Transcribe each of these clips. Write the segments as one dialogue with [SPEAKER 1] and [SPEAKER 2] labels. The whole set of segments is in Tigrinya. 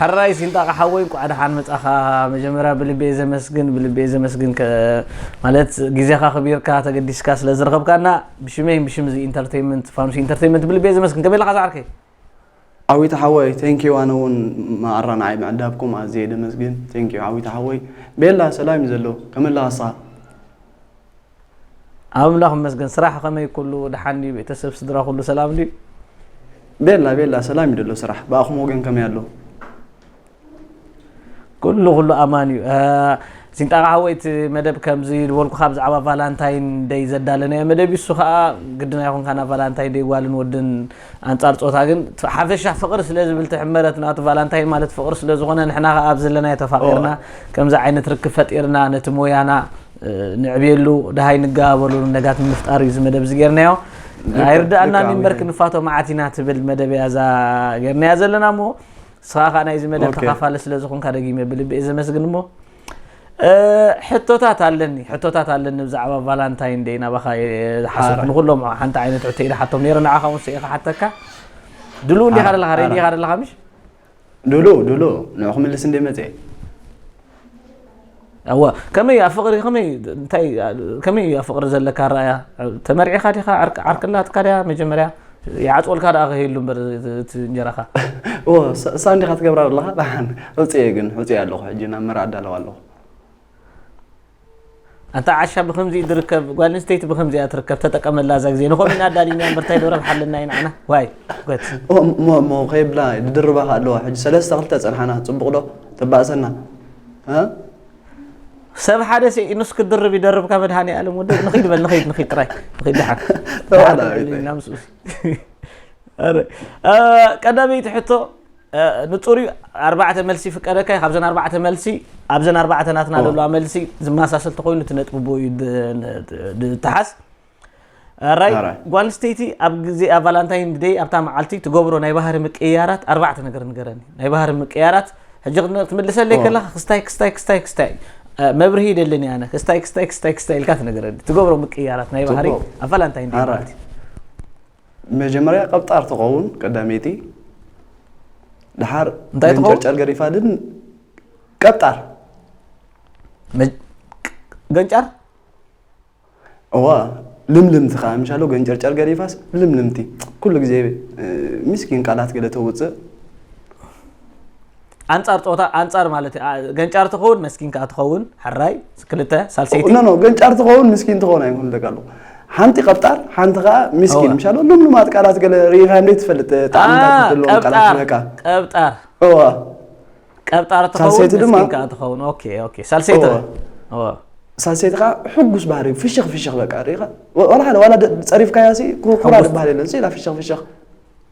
[SPEAKER 1] ሐራይ ሲንጣቃ ሓወይ እንኳዕ ደሓን መፃኻ መጀመርያ ብልቤ ዘመስግን ብልቤ ዘመስግን ከ ማለት ግዜኻ ክቢርካ ተገዲስካ ስለ ዝረኸብካና ብሽመይን ብሽም እዚ ኢንተርቴንመንት ፋኑስ ኢንተርቴንመንት ብልቤ ዘመስግን ከመይ ኣለኻ ዝዓርከይ ዓዊታ
[SPEAKER 2] ሓወይ ቴንኪዩ ኣነ እውን መኣራ ንዓይ ምዕዳብኩም ኣዝየ ደመስግን ቴንኪዩ ዓዊታ ሓወይ ቤላ ሰላም እዩ ዘሎ ከመይ ኣለኻ ንስኻ
[SPEAKER 1] ኣምላኽ ይመስገን ስራሕ ከመይ ኩሉ ደሓን ድዩ ቤተሰብ ስድራ ኩሉ ሰላም ድዩ ቤላ
[SPEAKER 2] ቤላ ሰላም ይደሎ ስራሕ ብኣኹም ወገን ከመይ ኣሎ
[SPEAKER 1] ኩሉ ኩሉ ኣማን እዩ ሲንጣቃ ሓወይ እቲ መደብ ከምዚ ዝበልኩካ ብዛዕባ ቫላንታይን ደይ ዘዳለናዮ መደብ እሱ ከዓ ግድና ይኹን ካና ቫላንታይን ደይ ጓልን ወድን ኣንፃር ፆታ ግን ሓፈሻ ፍቅሪ ስለ ዝብል ትሕመረት ናቱ ቫላንታይን ማለት ፍቅሪ ስለ ዝኾነ ንሕና ከዓ ኣብ ዘለናዮ ተፋቂርና ከምዚ ዓይነት ርክብ ፈጢርና ነቲ ሞያና ንዕብየሉ ደሃይ ንገባበሉ ነጋት ንምፍጣር እዩ እዚ መደብ እዚ ጌርናዮ ኣይርዳእና ሚንበር ክንፋቶ መዓት ኢና ትብል መደብ እያ እዛ ጌርናያ ዘለና እሞ ንስኻ ከዓ ናይዚ መደብ ተኻፋለ ስለ ዝኾንካ ደጊመ ብልቢ እየ ዘመስግን እሞ ሕቶታት ኣለኒ ሕቶታት ኣለኒ ብዛዕባ ቫላንታይን ደይ ናባኻ ሓሰብ ንኩሎም ሓንቲ ዓይነት ሕቶ ኢለ ሓቶም ነረ ንዓኻ እውን ስኢኻ ሓተካ ድሉ እንዲኻ ደለኻ ሬዲ ኢኻ ደለኻ ምሽ ዱሉ
[SPEAKER 2] ዱሉ ንዑ ክምልስ እንደ መፅኤ
[SPEAKER 1] እዋ ከመይ ኣብ ፍቅሪ ከመይ እንታይ ከመይ እዩ ኣብ ፍቅሪ ዘለካ ራእያ ተመርዒኻ ዲኻ ዓርቅላትካ ድያ መጀመርያ ይዓፅወልካ ደኣ ከይህሉ እምበር እቲ እንጀራኻ እዎ
[SPEAKER 2] ሳንዲኻ ትገብራ ኣለኻ ዳሓን ዕፅየ ግን ዕፅየ ኣለኹ ሕጂ ናብ መርዓ ኣዳለዋ ኣለኹ
[SPEAKER 1] ኣታ ዓሻ ብከምዚ ድርከብ ጓል ኣንስተይቲ ብከምዚ እያ ትርከብ ተጠቀመላ እዛ ግዜ ንኮሚና ኣዳሊና እምበር እንታይ ዶ ረብሓ ኣለና ኢና ዓና ዋይ ጓት እሞ እሞ
[SPEAKER 2] ከይብላ ድድርባ ከ ኣለዋ ሕጂ ሰለስተ ክልተ ጸንሓና ጽቡቅ ዶ ተባእሰና ሰብ ሓደ ሲ ንስ ክድርብ ይደርብ ካብ መድሃኒ ኣለም ወዲ ንኺድ በል ንኺድ ንኺድ ጥራይ ንኺድ ድሓን ቀዳመይቲ ሕቶ ንጹር እዩ ኣርባዕተ መልሲ ይፍቀደካ እዩ ካብዘን ኣርባዕተ መልሲ ኣብዘን ኣርባዕተ ናትና ዘለዋ መልሲ ዝመሳሰል ተኮይኑ እቲ ነጥቢ ቦ እዩ ዝተሓዝ ራይ ኣራይ። ጓል ኣንስተይቲ ኣብ ግዜ ኣብ ቫላንታይን ደይ ኣብታ መዓልቲ ትገብሮ ናይ ባህሪ ምቅይያራት ኣርባዕተ ነገር ንገረኒ ናይ ባህሪ ምቅይያራት ሕጂ ክን- ክትምልሰለይ ከለካ ክስታይ ክስታይ ክስታይ ክስታይ እ፣ መብርሂ ይደለኒ ኣነ ክስታይ ክስታይ ክስታይ ክስታይ ኢልካ ትነገረኒ ትገብሮ ምቅይያራት ናይ ባህሪ ትገብሮ። ኣብ ቫላንታይን ደይ ኣራይ። ማለት እዩ መጀመርያ ቀብጣር ትኸውን ቀዳመይቲ ድሓር እንታይ ትኸውን? ገንጨርጨር ገሪፋ ድን ቀብጣር መ-
[SPEAKER 1] ገንጫር እዋ
[SPEAKER 2] ልምልምቲ ከዓ ምሻሎ ገንጨርጨር ገሪፋስ ልምልምቲ ኩሉ ግዜ እ፣ ምስኪን ቃላት ገለ ተውፅእ ኣንጻር ጾታ ኣንጻር ማለት እ፣ ኣ- ገንጫር ትኸውን መስኪን ከኣ ትኸውን ሕራይ ክልተ ሳልሰይቲ ኖ ኖ ገንጫር ትኸውን ምስኪን ትኸውን ኣይኮኑ ደቂ ኣለኹ ሓንቲ ቀብጣር ሓንቲ ከዓ ምስኪን እዋ። ምሻሎ ልምሉማት ቃላት ገለ ርኢኻ እንዴት ትፈልጥ ጣዕምታት ኣ፣ ዘለዎም ቃላት ቀብጣር በቃ ቀብጣር እዋ ቀብጣር ትኸውን ሳልሰይቲ ድማ- መስኪን ከኣ ትኸውን ኦኬ ኦኬ ሳልሰይቲ እዋ። እዋ። ሳልሰይቲ ከዓ ሕጉስ ባህሪ እዩ። ፍሽኽ ፍሽኽ በቃ ርኢኻ ወ- ዋላ ሓደ ዋላ ደ- ፀሪፍካያ ሲ ኩ- ኩራ ሕጉስ- ዝበሃል የለን ሲ ኢላ ፍሽኽ ፍሽኽ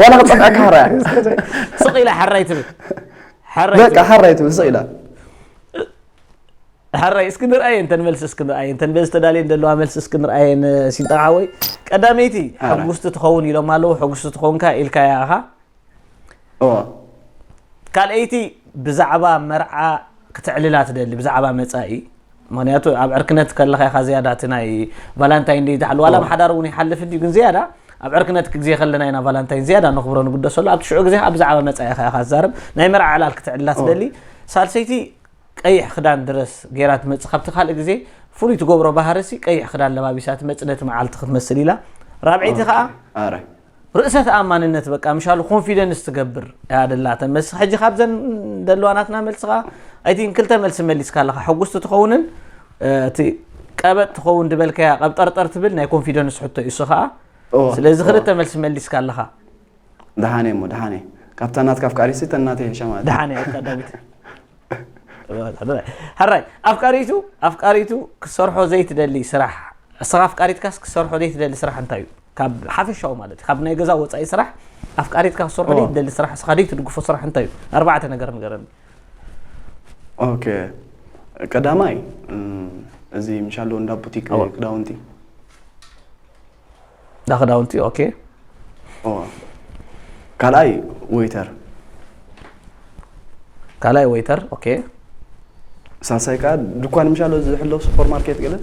[SPEAKER 2] ዋላ ክጸፍዐካ ሓራያ ስቕ ኢላ
[SPEAKER 1] ሓራይ ትብል ሓራይ በቃ ትብል።
[SPEAKER 2] ሓራይ ትብል ስቕ ኢላ
[SPEAKER 1] ሓራይ እስኪ ንርኣየ እንተን መልሲ እስኪ ንርኣየ እንተን በዚ ተዳልየን ዘለዋ መልሲ እስኪ ንርኣየን ሲልጣን ሓወይ ቀዳመይቲ ሕጉስቲ ትኸውን ኢሎም ኣለዉ ሕጉስቲ ትኸውንካ ኢልካያ ኢኻ እዎ ካልኣይቲ ብዛዕባ መርዓ ክተዕልላ ትደሊ ብዛዕባ መፃኢ ምክንያቱ ኣብ ዕርክነት ከለካ ኢካ ዝያዳ እቲ ናይ ቫላንታይን ደይ ዝሓሉ ዋላ ኣብ ሓዳር እውን ይሓልፍ እንድዩ ግን ዝያዳ ኣብ ዕርክነት ግዜ ከለና ኢና ቫላንታይን ዝያዳ ነክብሮ ንግደሰሉ ኣብቲ ሽዑ ግዜ ከኣ ብዛዕባ መጻኢካ ኢካ ትዛረብ ናይ መርዓ ዕላል ክትዕልላ ትደሊ ሳልሰይቲ ቀይሕ ክዳን ድረስ ገይራ ትመጽእ ካብቲ ካልእ ግዜ ፍሉይ ትገብሮ ባህርሲ ቀይሕ ክዳን ለባቢሳ ትመጽእ ነቲ መዓልቲ ክትመስል ኢላ ራብዐይቲ ከኣ ርእሰ
[SPEAKER 2] ተኣማንነት በቃ ምሻሉ ኮንፊደንስ ትገብር እያ ደላተን መስ ሕጂ ካብዘን ደለዋ ናትና መልሲ ከዓ ኣይ ቲንክ ክልተ መልሲ መሊስካ ኣለካ ሕጉስቲ ትኸውንን እ፣ እቲ ቀበጥ ትኸውን ድበልካያ ቀብጠርጠር ትብል ናይ ኮንፊደንስ ሕቶ እዩ እሱ ከዓ እወ፣ ስለዚ እወ። ክልተ መልሲ መሊስካ ኣለካ ደሓን እየ እሞ
[SPEAKER 3] ደሓን እየ ካብታ ናትካ ኣፍቃሪሲ እተን ናተይ ይሕሻ ማለት እዩ። ደሓን
[SPEAKER 2] እያ ቀዳሚት ሕራይ ኣፍቃሪቱ ኣፍቃሪቱ ክሰርሖ ዘይትደሊ ስራሕ እስኻ ኣፍቃሪትካስ ክሰርሖ ዘይትደሊ ስራሕ እንታይ እዩ ካብ ሓፈሻዊ ማለት ካብ ናይ ገዛ ወፃኢ ስራሕ ኣፍቃሪትካ ክሰርሖ ደይ ትደሊ ስራሕ እስኻ ደይ ትድግፎ ስራሕ እንታይ እዩ ኣርባዕተ ነገር ንገረኒ
[SPEAKER 3] ኦኬ ቀዳማይ እዚ ምሻሎ እንዳ ቡቲክ ክዳውንቲ እንዳ
[SPEAKER 2] ክዳውንቲ ኦኬ
[SPEAKER 3] ካልኣይ ወይተር ካልኣይ ወይተር
[SPEAKER 2] ኦኬ
[SPEAKER 3] ሳልሳይ ከዓ ድኳን ምሻሎ ዝሕለው ሱፐር ማርኬት ገለ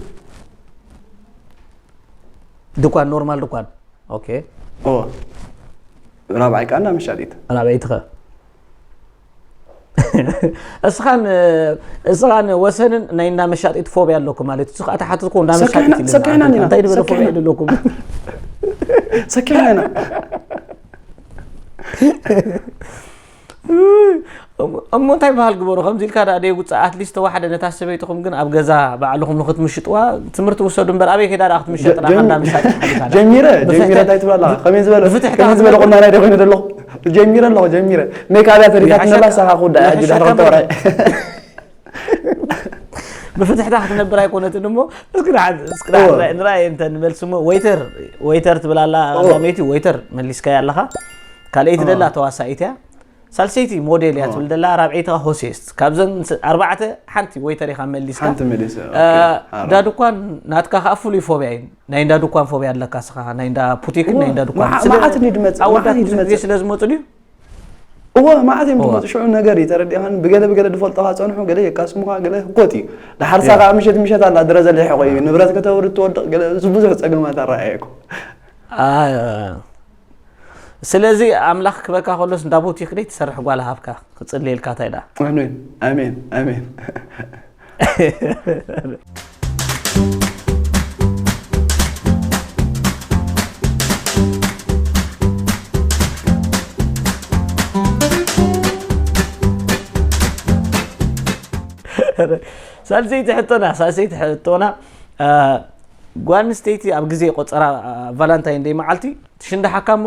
[SPEAKER 2] ድኳን ኖርማል ድኳን ኦኬ ኦ
[SPEAKER 3] ራብዓይ ከኣ እንዳ መሻጢት ራብዐይቲ ከ
[SPEAKER 2] እስኻን እስኻን ወሰንን ናይ እንዳ መሻጢት ፎብያ ኣለኩም ማለት እሱ ከዓ ተሓትትኩ እንዳ ሰኪዕና- መሻጢት ሰኪዕና ኢና፣ እንታይ ንበለ
[SPEAKER 3] ፎብያ ሰኪዕና።
[SPEAKER 2] ኣለኩም ሰኪዕና
[SPEAKER 3] ኢና
[SPEAKER 2] እሞ እንታይ በሃል ግበሩ ከምዚ ኢልካ ዳኣ ደይውፅእ ኣትሊስት ተዋሕደ ነታ ሰበይትኹም ግን ኣብ ገዛ ባዕልኹም ንክትምሽጥዋ ትምህርቲ ውሰዱ እምበር ኣበይ ከይዳ ዳኣ ክትምሸጥ ዳኣ ካንዳ ምሳጥ ጀሚረ
[SPEAKER 3] ጀሚረ እንታይ ትብላ ኣለኻ ከመይ ዝበለ ከመይ ዝበለ ቁናና ደ ኮይኑ ዘለኹ ጀሚረ ኣለኹ ጀሚረ ሜክ ኣብያ ተሪፋትኒ ኣላ ሳኻ ክውዳእ ሕጂ ድሕሪ ክልተ ወርሒ
[SPEAKER 2] ብፍትሕታ ክትነብር ኣይኮነትን እሞ እስኪ ንሓንቲ እስኪ ንሓንቲ ንራእየ እንተ ንመልሲ እሞ ወይተር ወይተር ትብል ኣላ ኣላመይቲ ወይተር መሊስካያ ኣለኻ ካልኣይቲ ደላ ተዋሳኢት እያ ሳልሰይቲ ሞዴል እያ ትብል ደላ ራብዐይቲ ኸ ሆሴስት ካብዘን ስ- ኣርባዕተ ሓንቲ ወይተር ኢኻ መሊስካ ሓንቲ መሊሰ፣ ኦኬ፣ አ፣
[SPEAKER 3] ኣራ። እንዳ
[SPEAKER 2] ድኳን ናትካ ከዓ ፍሉይ ፎብያ እዩ ናይ እንዳ ድኳን ፎብያ ኣለካ ስኻ ናይ እንዳ ፑቲክን ናይ እንዳ ድኳን መዓ- መዓት እንድዩ ዝመጽእ፣
[SPEAKER 3] መዓት እንድዩ ዝመጽእ። ስለ
[SPEAKER 2] ዝመፁ ድዩ እወ
[SPEAKER 3] መዓት እዮም ዝመፁ ሽዑ ነገር እዩ ተረዲኻን ብገለ ብገለ ዝፈልጦኻ ፀንሑ ገለ የቃስሙኻ ገለ ህኮት እዩ ዳሓርሳ ከዓ ምሸት ምሸት ኣላ ድረ ዘሊሕቆ እዩ ንብረት ከተውርድ ትወድቕ ገለ እዚ ብዙሕ ፀገማት ኣረኣየኩ ስለዚ ኣምላኽ ክበካ ከሎስ እንዳ ቦቲክ ደይ ትሰርሕ ጓል ሃብካ ክፅልየልካ እንታይ ደኣ ኣሜን ኣሜን ኣሜን
[SPEAKER 2] ሳልሰይቲ ሕቶና ሳልሰይቲ ሕቶና ጓል ኣንስተይቲ ኣብ ግዜ ቆፀራ ቫላንታይን ደይ መዓልቲ ትሽንዳሓካ እሞ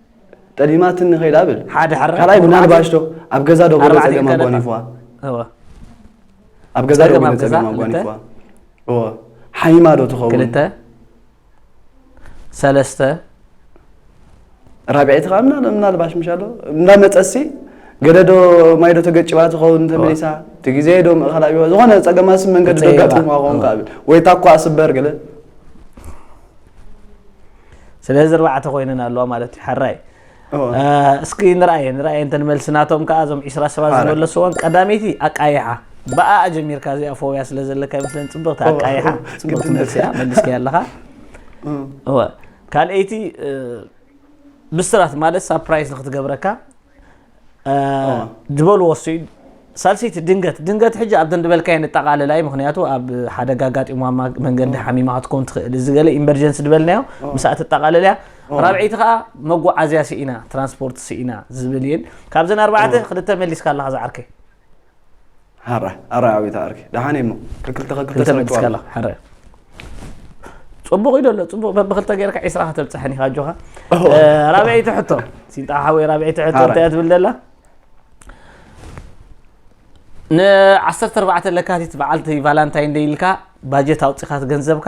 [SPEAKER 3] ጠሊማትኒ ከይዳ ብል ሓደ ሓራ ካልኣይ
[SPEAKER 2] ምናልባሽ ዶ
[SPEAKER 3] ኣብ ገዛ ዶ ገለ ጸገም ኣጓኒፍዋ ኣብ ገዛ ዶ ገለ ጸገም ኣጓኒፍዋ እወ ሓይማ ዶ ትኸውን ክልተ
[SPEAKER 2] ሰለስተ
[SPEAKER 3] ራብዐይቲ ከዓ ምናልባሽ ምሻ ኣሎ እንዳመፀሲ ገለ ዶ ማይ ዶ ተገጭባ ትኸውን ተመሊሳ እቲ ግዜ ዶ ምእኻላ ቢዋ ዝኾነ ፀገማ ስብ መንገዲ ዶ ኣጋጢምዋ ክኸውን ከዓ ወይ ታኳ ስበር ገለ
[SPEAKER 2] ስለዚ ኣርባዕተ ኮይነን ኣለዋ ማለት እዩ ሓራይ እስኪ ንርኣየ ንርኣየ እንተ መልሲ ናቶም ከዓ እዞም ዒስራ ሰባት ዝመለስዎን ቀዳመይቲ ኣቃይሓ ብኣኣ ጀሚርካ እዚኣ ፎብያ ስለ ዘለካ ይመስለኒ ፅብቕቲ ኣቃይሓ ፅብቕቲ መልሲ እያ መልስኪያ ኣለኻ ካልኣይቲ ብስራት ማለት ሳፕራይዝ ንክትገብረካ ዝበልዎ እሱ እዩ ሳልሰይቲ ድንገት ድንገት ሕጂ ኣብ ደንድበልካ የንጠቃልላ እዩ ምክንያቱ ኣብ ሓደጋ ኣጋጢሞ መንገዲ ሓሚማ ክትከውን ትኽእል እዚ ገለ ኢመርጀንሲ ዝበልናዮ ምስኣ ትጠቃልል እያ ራብዐይቲ ከዓ መጓዓዝያ ስኢና ትራንስፖርት ስኢና ዝብል እየን ካብዘን ኣርባዕተ ክልተ መሊስካ ኣለካ ዝዓርከይ ሐራይ ሐራይ
[SPEAKER 3] ኣቤት ኣርኪ ደሓን እሞ ከክልተ ከክልተ ክልተ ምእንቲ
[SPEAKER 2] ስርሕቱ ከለኻ ሕረ ፅቡቕ እዩ ደሎ ፅቡቕ በብክልተ ጌርካ ዒስራ ከተብፅሐን ኢኻ ኣጆኻ ኦሆ። እ፣ ራብዐይቲ ሕቶ ሲንጣ ሓወይ ራብዐይቲ ሕቶ ሓራይ። እንታይ እያ ትብል ደላ ን14 ለካቲት በዓልቲ ቫላንታይን ደይ ኢልካ ባጀት ኣውፂኻት ገንዘብካ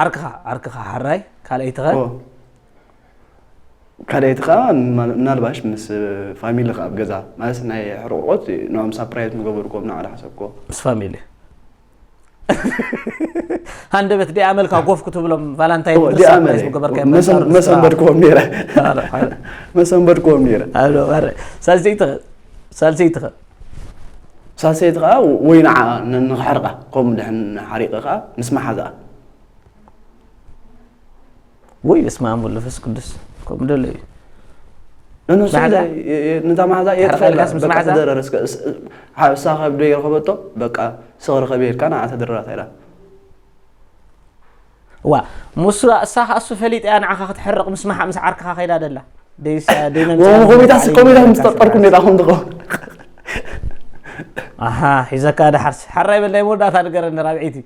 [SPEAKER 2] ዓርክኻ ዓርክኻ ሓራይ
[SPEAKER 3] ካልኣይትኸ ካልኣይትኻ ምናልባሽ ምስ ፋሚሊ ኣብ ገዛ ማለት ናይ ሕርቆት ንኦም ሳፕራይዝ ምገበርኩም ንዓላ ሓሰብኮ ምስ ፋሚሊ
[SPEAKER 2] ሃንደበት ዲኣ መልካ ጎፍ ክትብሎም ቫላንታይን መሰንበድክዎም
[SPEAKER 3] ነረ መሰንበድክዎም ነረ
[SPEAKER 2] ሳልሰይትኸ ሳልሰይትኸ
[SPEAKER 1] ሳልሰይቲ ከኣ ወይ ንዓኣ
[SPEAKER 3] ንክሕርቃ ከምኡ ድሕን ሓሪቀ ከኣ ምስ መሓዝኣ
[SPEAKER 2] ወይ በስመ ኣብ ወወልድ ወመንፈስ ቅዱስ ከምኡ ደሎ እዩ እነሱ
[SPEAKER 3] ማዕዛ? የ- የ- ነታ ማዕዛ እየ ሕርቃ ትፈልጣ። ኢልካስ ምስ በቃ ማዕዛ? ተደረረ እስከ እስ- ዓ- እሳ ከብደይ ረኸበቶ በቃ ስኽ ርኸብ ኢልካ ንዓ ተደረራ ኢላ
[SPEAKER 2] እዋ ሙሱ እሳ ከኣ እሱ ፈሊጣ እያ ንዓኻ ክትሕርቕ ምስ መሓ ምስ ዓርክኻ ከይዳ ደላ ደይሳ ደይነምሳ ወም ኮሚታ ስኮሚታ
[SPEAKER 3] ምስ ጠጠርኩ ኔታ ኹም ትኸውን
[SPEAKER 2] ኣሃ ሒዘካ ደሓርሲ ሓራይ በላይ መወዳእታ ንገረኒ ራብዒይቲ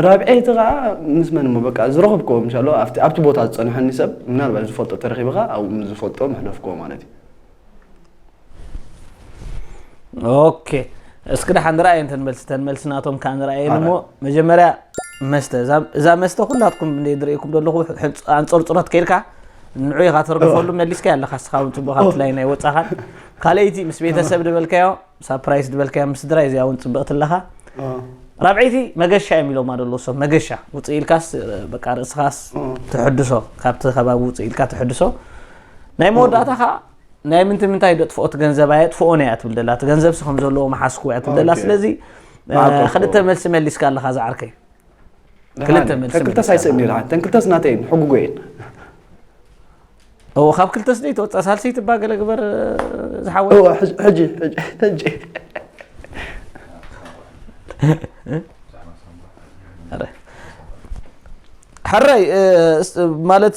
[SPEAKER 3] ራብዒይቲ ከዓ ምስ መን እሞ በቃ ዝረኸብክዎም እንሻሎ ኣብቲ ቦታ ዝፀንሐኒ ሰብ ምናልባት ዝፈልጦ ተረኺብኻ ኣብኡ ምስ ዝፈልጦ መሕለፍክዎ ማለት እዩ
[SPEAKER 2] ኦኬ እስኪ ድሓ ንርኣየ እንተን መልሲ እተን መልሲ ናቶም ከዓ ንርኣየን እሞ መጀመርያ መስተ እዛ- እዛ መስተ ኩላትኩም እንደ ዝርእየኩም ዘለኹ ሕንፅ- ኣንፀርፅሮት ከይድካ ንዑ ኢኻ ተርግፈሉ መሊስካ ኣለካ እስኻ እውን ፅቡቅ ካብቲ ላይ ናይ ወፃኻ ካልኣይቲ ምስ ቤተሰብ ዝበልካዮ ሳፕራይስ ዝበልካያ ምስ ስድራይ እዚኣ እውን ፅብቕቲ ኣለኻ ራብዐይቲ መገሻ እዮም ኢሎማ ደሎ ሰብ መገሻ ውፅእ ኢልካስ በቃ ርእስኻስ ትሕድሶ ካብቲ ከባቢ ውፅእ ኢልካ ትሕድሶ ናይ መወዳእታ ከዓ ናይ ምንቲ ምንታይ ደጥፍኦ እቲ ገንዘብ ኣየ ጥፍኦን እያ ትብል ደላ እቲ ገንዘብሲ ከም ዘለዎ መሓስኩ እያ ትብል ደላ ስለዚ ክልተ መልሲ መሊስካ ኣለካ ዝዓርከይ ክልተ መልሲ ተንክልተስ ኣይስእን ነይረ
[SPEAKER 3] ተንክልተስ ናተይ እየን ሕጉጎ እየን
[SPEAKER 2] እዎ ካብ ክልተስ ደይ ተወፃ ሳልሰይቲ እባ ገለ ግበር ዝሓወ ሕጂ
[SPEAKER 3] ሕጂ
[SPEAKER 2] ሕረይ ማለት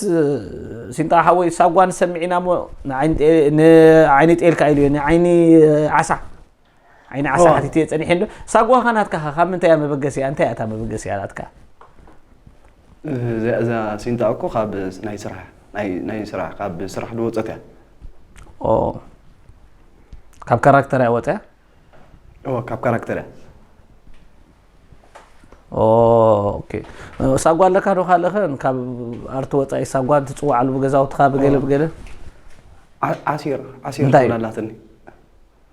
[SPEAKER 2] ሲንጣ ሓወይ ሳጓን ሰሚዒና ሞ ንዓይኒ ጤልካ ኢሉ እዩ ንዓይኒ ዓሳ ዓይኒ ዓሳ ሓቲት እየ ፀኒሐ ዶ ሳጓኻ ናትካ ኸ ካብ ምንታይ እያ መበገሲያ እንታይ እያ እታ መበገሲያ ናትካ
[SPEAKER 3] እዛ ሲንጣ እኮ ካብ ናይ ስራሕ ናይ ስራሕ ካብ ስራሕ ዝወፀት እያ
[SPEAKER 2] ካብ ካራክተር እያ ወፅያ ካብ
[SPEAKER 3] ካራክተር
[SPEAKER 2] እያ ሳጓ ኣለካ ዶ ካልእኸ ካብ ኣርቲ ወፃኢ ሳጓ ትፅዋዓሉ ብገዛውትኻ ብገለ ብገለ
[SPEAKER 3] ዓሲር ዓሲር ትብላላትኒ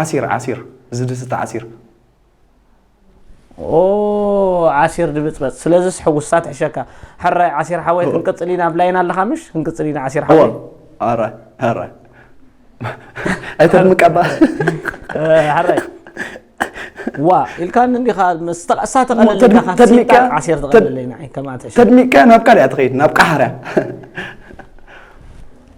[SPEAKER 3] ዓሲር ዓሲር ዝድስቲ ዓሲር።
[SPEAKER 2] ኦህ ዓሲር ድብጽበጽ ስለዝስ ሕጉሳ ትሕሸካ ሕራይ ዓሲር ሓወይ ክንቅጽል ኢና ኣብ ላይን ኣለኻ ምሽ ክንቅጽል ኢና ዓሲር ሓወይ ኣራይ
[SPEAKER 3] ኣራይ ኣይተድምቀባ
[SPEAKER 2] ሓራይ ዋ ኢልካን እንዲኻ እሳ ተቐለለካ ዓሴር
[SPEAKER 3] ተቐለለይ
[SPEAKER 2] ንዓይ ከማትሽ ተድሚቅካ ናብ ካልእያ
[SPEAKER 3] ትኸይድ ናብ ቃሓርያ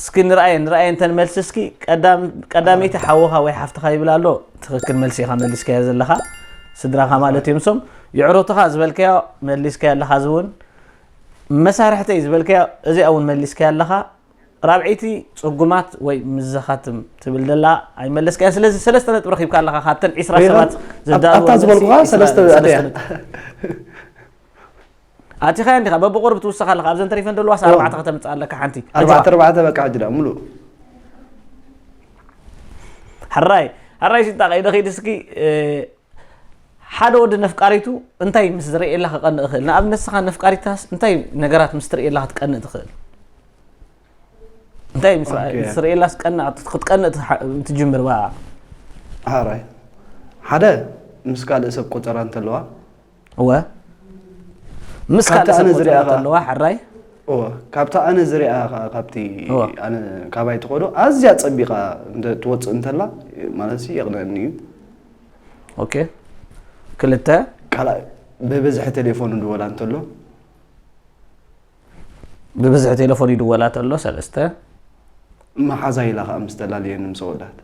[SPEAKER 2] እስኪ ንርኣየን ንርኣየን ተን መልሲ እስኪ ቀዳመይቲ ሓውኻ ወይ ሓፍትኻ ይብል ኣሎ ትኽክል መልሲ ኢኻ መሊስካዮ ዘለኻ ስድራኻ ማለት እዮም ሶም ይዕሩትኻ ዝበልካዮ መሊስካዮ ኣለኻ እዚ እውን መሳርሕተይ ዝበልካዮ እዚኣ እውን መሊስካዮ ኣለኻ ራብዒይቲ ፅጉማት ወይ ምዘኻትም ትብል ዘላ ኣይመለስካያ ስለዚ ሰለስተ ነጥቢ ረኪብካ ኣለካ ካብተን ዒስራ ሰባት ዝዳኣታ ዝበልኩካ
[SPEAKER 3] ሰለስተ
[SPEAKER 2] ኣቲኻያ እንዲኻ በብቑርብ ትውስኽ ኣለኻ ኣብዘን ተሪፈን ዘለዋስ ኣርባዕተ ከተምፅእ ኣለካ ሓንቲ ኣርባዕተ ኣርባዕተ በቃ ሕጂ
[SPEAKER 3] ዳ ሙሉእ
[SPEAKER 2] ሕራይ ሕራይ ሽንጣ ቀይደ ኸይድ እስኪ ሓደ ወዲ ነፍቃሪቱ እንታይ ምስ ዝርእየላ ክቐንእ ይኽእል ንኣብነት ንስኻ ነፍቃሪታስ እንታይ ነገራት ምስ ትርእየላ ክትቀንእ ትኽእል እንታይ ምስ ርእየላስ ቀንእ ክትቀንእ ትጅምር ባ ሓራይ
[SPEAKER 3] ሓደ ምስ ካልእ ሰብ ቆፀራ እንተለዋ እወ
[SPEAKER 2] ምስ ካብቲ ካልእ ኣነ ሰብ ዝሪኣ ቆፅራ ኸኣ- ተለዋ ሕራይ እወ ካብታ
[SPEAKER 3] ኣነ ዝሪኣ ከዓ ካብቲ እወ። ኣነ ካባይ ትኸዶ ኣዝያ ፀቢቓ እንተ ትወፅእ እንተላ ማለት ሲ የቕንዐኒ እዩ
[SPEAKER 2] ኦኬ ክልተ ካልኣይ
[SPEAKER 3] ብብዝሒ ቴሌፎን ድወላ እንተሎ
[SPEAKER 2] ብብዝሒ ቴሌፎን ይድወላ ተሎ ሰለስተ
[SPEAKER 3] መሓዛ ኢላ ከዓ ምስ ተላለየኒ ምስ ወዳት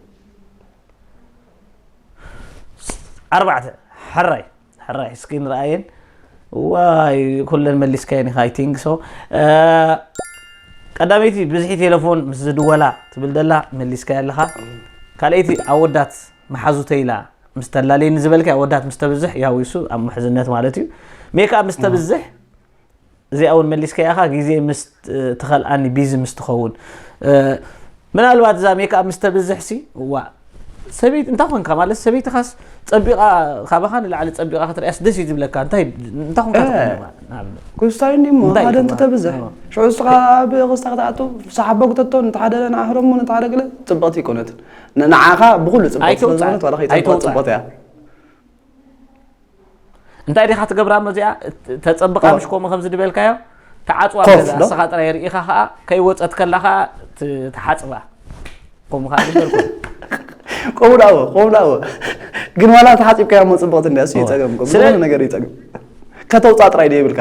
[SPEAKER 2] ኣርባዕተ ሕራይ ሕራይ እስኪ ንረኣየን ዋይ ኩለን መሊስካየን ኢኻ ኣይቲንግ ሶ ቀዳመይቲ ብዝሒ ቴሌፎን ምስ ዝድወላ ትብል ደላ መሊስካያ ኣለኻ ካልኣይቲ ኣወዳት መሓዙተ ኢላ ምስ ተላለየኒ ዝበልካ ኣወዳት ምስ ተብዝሕ ያው ይሱ ኣብ ምሕዝነት ማለት እዩ ሜክኣፕ ምስ ተብዝሕ እዚኣ ውን መሊስካያ ኢኻ ግዜ ምስ ትኸልኣኒ ቢዚ ምስ ትኸውን ምናልባት እዛ ሜክኣፕ ምስ ተብዝሕ ሲ ዋእ ሰበይቲ እንታይ ኮንካ ማለት ሰበይትኻስ ፀቢቓ ካባኻ ንላዕሊ ፀቢቓ ክትሪኣስ ደስ እዩ ዝብለካ እንታይ እንታይ ኮንካ ንኣብነት
[SPEAKER 3] ክስታይኒ እሞ ሓደ እንተተብዝሕ ሽዑ ንስኻ ኣብ ክስታ ክትኣቱ ሰሓቦ ክተቶ ነቲ ሓደ ንዓ ህረሞ ነቲ ሓደ ገለ ፅብቕቲ ኣይኮነትን ንዓኻ ብኩሉ ፅብቕቲ ስለዝኾነት ዋላ ከይፀብቐት ፅብቕቲ እያ
[SPEAKER 2] እንታይ ዲኻ ትገብራ መዚኣ ተፀብቃ ምሽ ከምኡ ከምዚ ድበልካዮ ተዓፅዋ ገዛ ንስኻ ጥራይ ርኢኻ ከዓ ከይወፀት ከላ ከዓ ትሓፅባ ከምኡ ከዓ ዝበልኩ ቆሙ ዳዎ
[SPEAKER 3] ቆሙ ዳዎ ግን ዋላ ተሓፂብካዮ እሞ ፅብቕቲ እንዲያ እሱ ይፀገም ነገር ይፀገም ከተውፃ ጥራይ ዶ ይብልካ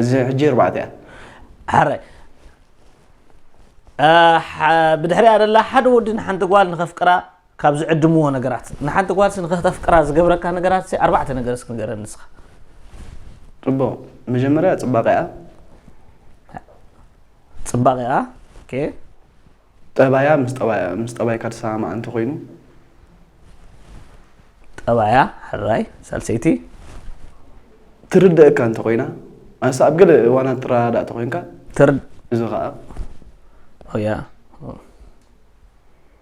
[SPEAKER 3] እዚ ሕጂ ኣርባዕተ እያ
[SPEAKER 2] ሓራይ ብድሕሪያ ደላ ሓደ ወዲ ንሓንቲ ጓል ንኸፍቅራ ካብ ዝዕድምዎ ነገራት ንሓንቲ ጓልሲ ንክተፍቅራ ዝገብረካ ነገራትሲ ኣርባዕተ ነገር እስኪ ንገረኒ ንስካ።
[SPEAKER 3] ጽቡቅ መጀመርያ ጽባቂኣ።
[SPEAKER 2] ጽባቂኣ ኦኬ።
[SPEAKER 3] ጠባያ ምስ ጠባያ ምስ ጠባይካ ዝሰማማዕ እንተኮይኑ።
[SPEAKER 2] ጠባያ ሕራይ ሳልሰይቲ። ትርደኣካ
[SPEAKER 3] እንተኮይና ኣንስ ኣብ ገለ እዋናት ትረዳዳእ ተኮይንካ ትር እዚ
[SPEAKER 2] ከኣ ኦያ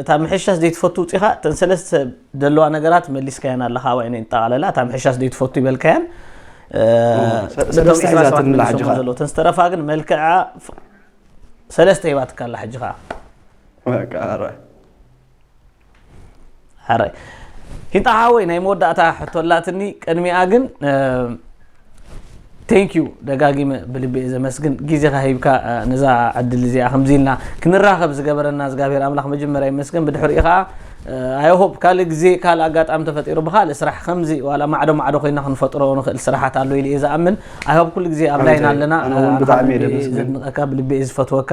[SPEAKER 2] እታ ምሕሻስ ዘይትፈቱ ውፂኻ እተን ሰለስተ ዘለዋ ነገራት መሊስካየን ኣለኻ ኣባይ ናይ ጠቓለላ እታ ምሕሻስ ዘይትፈቱ ይበልካየን
[SPEAKER 3] እተን ዝተረፋ ግን
[SPEAKER 2] መልክዓ ሰለስተ ሂባትካ ኣላ ሕጂ ከዓ ሕራይ ሂንጣ ሓወይ ናይ መወዳእታ ሕቶ ኣላትኒ ቅድሚኣ ግን ቴንክ ዩ ደጋጊመ ብልቢ እየ ዘመስግን ግዜኻ ሂብካ ነዛ ዕድል እዚኣ ከምዚ ኢልና ክንራኸብ ዝገበረና እግዚኣብሄር ኣምላኽ መጀመርያ ይመስገን ብድሕሪኡ ከዓ ኣይሆፕ ካልእ ግዜ ካልእ ኣጋጣሚ ተፈጢሩ ብካልእ ስራሕ ከምዚ ዋላ ማዕዶ ማዕዶ ኮይና ክንፈጥሮ ንኽእል ስራሓት ኣሎ ኢሉ እየ ዝኣምን ኣይሆፕ ኩሉ ግዜ ኣብ ላይን ኣለና ኣነ እውን ብጣዕሚ እየ ደመስግን። ዘድንቐካ ብልቢ እየ ዝፈትወካ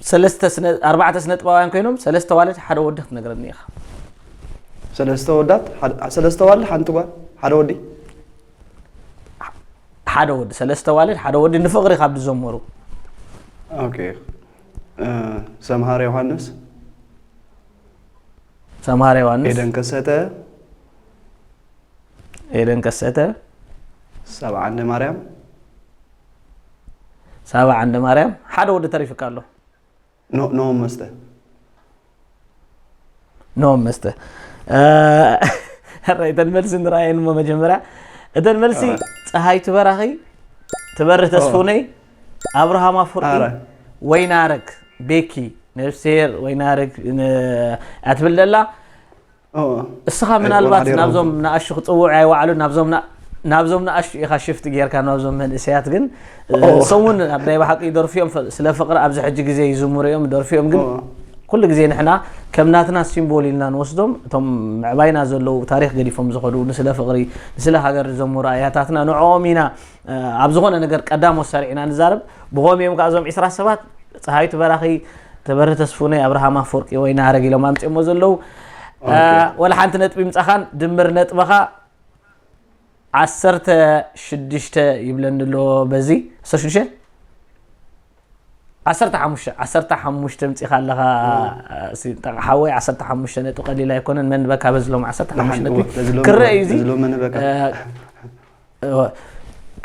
[SPEAKER 3] ሰለስተ ስነ ኣርባዕተ ስነ ጥበባውያን ኮይኖም ሰለስተ ዋልድ ሓደ ወዲ ክትነግረኒ ኢኻ። ሰለስተ ወዳት ሓደ- ሰለስተ ዋልድ ሓንቲ ጓል ሓደ ወዲ
[SPEAKER 2] ሓደ ወዲ ሰለስተ ዋልድ ሓደ ወዲ ንፍቕሪ ካብ ዝዘመሩ ኦኬ
[SPEAKER 3] እ፣ ሰምሃር ዮሃንስ
[SPEAKER 2] ሰምሃር ዮሃንስ፣ ኤደን ከሰተ
[SPEAKER 1] ኤደን ከሰተ፣
[SPEAKER 4] ሰብዓንደ ማርያም
[SPEAKER 1] ሳባ ዓንደማርያም ሓደ ወዲ ተሪፍካ ኣሎ ኖ ኖ
[SPEAKER 4] መስተ ኖ መስተ
[SPEAKER 1] ሕራይ እተን መልሲ ንረኣየን እሞ መጀመርያ እተን መልሲ ፀሃይ ትበራኺ ትበርህ ተስፉነይ ኣብርሃም ኣፍርቂ ኣረ። ወይናረግ ቤኪ ነፍሴር ወይናረግ ን- እያ ትብል ዘላ እስኻ ምናልባት ናብዞም ንኣሹ ክጽውዑ ኣይወዓሉን ናብዞም ናብዞም ንኣሽቱ ኢኻ ሽፍት ጌርካ ናብዞም መንእሰያት ግን እሶም እውን ኣብ ናይ ባሓቂ ደርፊ እዮም ስለ ፍቅሪ ኣብዚ ሕጂ ግዜ ይዝምሩ እዮም ደርፊ እዮም ግን ኩሉ ግዜ ንሕና ከም ናትና ሲምቦል ኢልና ንወስዶም እቶም ምዕባይና ዘለዉ ታሪክ ገዲፎም ዝኸዱ ንስለ ፍቅሪ ንስለ ሃገር ዝዘምሩ ኣያታትና ንዕኦም ኢና ኣብ ዝኾነ ነገር ቀዳሞት ሰሪዕና ንዛረብ ብኸም እዮም ከ እዞም ዒስራ ሰባት ፀሃይቱ በራኺ ተበሪ ተስፉነ ኣብርሃም ኣፈወርቂ ወይ ናረግ ኢሎም ኣምፅኦሞ ዘለዉ ወላ ሓንቲ ነጥቢ ምፃኻን ድምር ነጥበኻ ዓሰርተ ሽዱሽተ ይብለኒ ኣሎ በዚ ዓሰርተ ሽዱሽተ ዓሰርተ ሓሙሽተ ዓሰርተ ሓሙሽተ ምፂኻ ኣለኻ ሓወይ ዓሰርተ ሓሙሽተ ነጥቢ ቀሊል ኣይኮነን መን በካ በዝሎም ዓሰርተ ሓሙሽተ ነጥቢ ክረአ እዩ እዚ እወ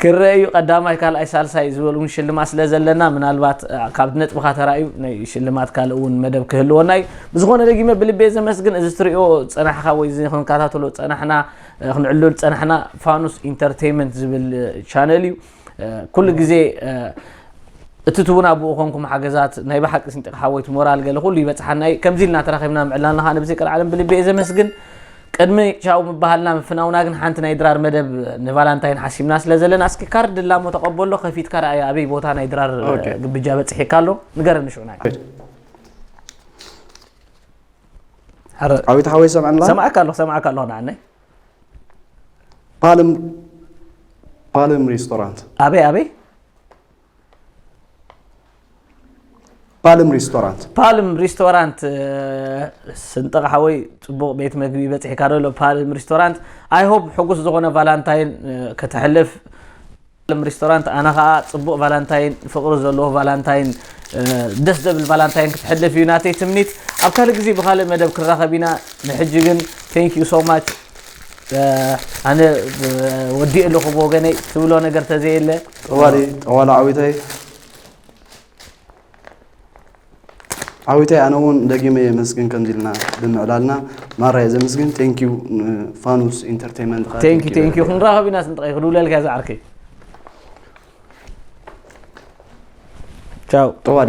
[SPEAKER 1] ክረእ እዩ ቀዳማይ ካልኣይ ሳልሳይ ዝበል እውን ሽልማት ስለ ዘለና ምናልባት ካብ ነጥብካ ተራእዩ ናይ ሽልማት ካልእ እውን መደብ ክህልወና እዩ ብዝኾነ ደጊመ ብልቤ ዘመስግን እዚ ትሪኦ ፀናሕካ ወይ እዚ ክንከታተሎ ፀናሕና ክንዕልል ፀናሕና ፋኑስ ኢንተርቴይመንት ዝብል ቻነል እዩ ኩሉ ግዜ እቲ ትቡና ብኡ ኮንኩም ሓገዛት ናይ ብሓቂ ስንጢቕ ሓወይት ሞራል ገለ ኩሉ ይበፅሓና እዩ ከምዚ ኢልና ተራኺብና ምዕላልና ከዓ ነብዚ ቀልዓለም ብልቢ እየ ዘመስግን ቅድሚ ቻው ምባሃልና ምፍናውና ግን ሓንቲ ናይ ድራር መደብ ንቫላንታይን ሓሲብና ስለ ዘለና እስኪ ካርድ ላሞ ተቐበሎ ከፊትካ ረኣያ ኣበይ ቦታ ናይ ድራር ኦኬ። ግብጃ በፂሒካ ኣሎ ንገረኒ ሽዑ ናይ ኧረ፣
[SPEAKER 4] ዓዊት ሓወይ ሰምዐና ሰማዕካ ኣለኹ ሰማዕካ
[SPEAKER 1] ኣለኹ ንዓነይ
[SPEAKER 4] ፓልም ፓልም ሬስቶራንት ኣበይ ኣበይ
[SPEAKER 1] ፓልም ሪስቶራንት ፓልም ሪስቶራንት ስንጥቕ ሓወይ ፅቡቕ ቤት መግቢ በፂሕካ ደሎ ፓልም ሪስቶራንት ኣይሆብ ሕጉስ ዝኾነ ቫላንታይን ከተሕልፍ ፓልም ሪስቶራንት ኣነ ከዓ ፅቡቕ ቫላንታይን ፍቕሪ ዘለዎ ቫላንታይን ደስ ዘብል ቫላንታይን ክትሕልፍ እዩ ናተይ ትምኒት ኣብ ካልእ ግዜ ብካልእ መደብ ክንራኸብ ኢና ንሕጂ ግን ቴንክ ዩ ሶ ማች ኣነ ወዲእ ኣለኹ ብወገነይ ትብሎ ነገር ተዘየለ ጠዋሊ ጠዋላ
[SPEAKER 4] ዓዊተይ ዓዊተይ ኣነ እውን ደጊመ የመስግን ከምዚ ኢልና ብምዕላልና ማራ እየ ዘመስግን ቴንኪዩ ፋኑስ ኢንተርቴንመንት ከዓ ቴንኪ thank you ቴንኪ very much።
[SPEAKER 1] ክንራኸብ ኢና ስንጥቐይ ክድውለልካ ዝዓርከይ ቻው ጠዋሊ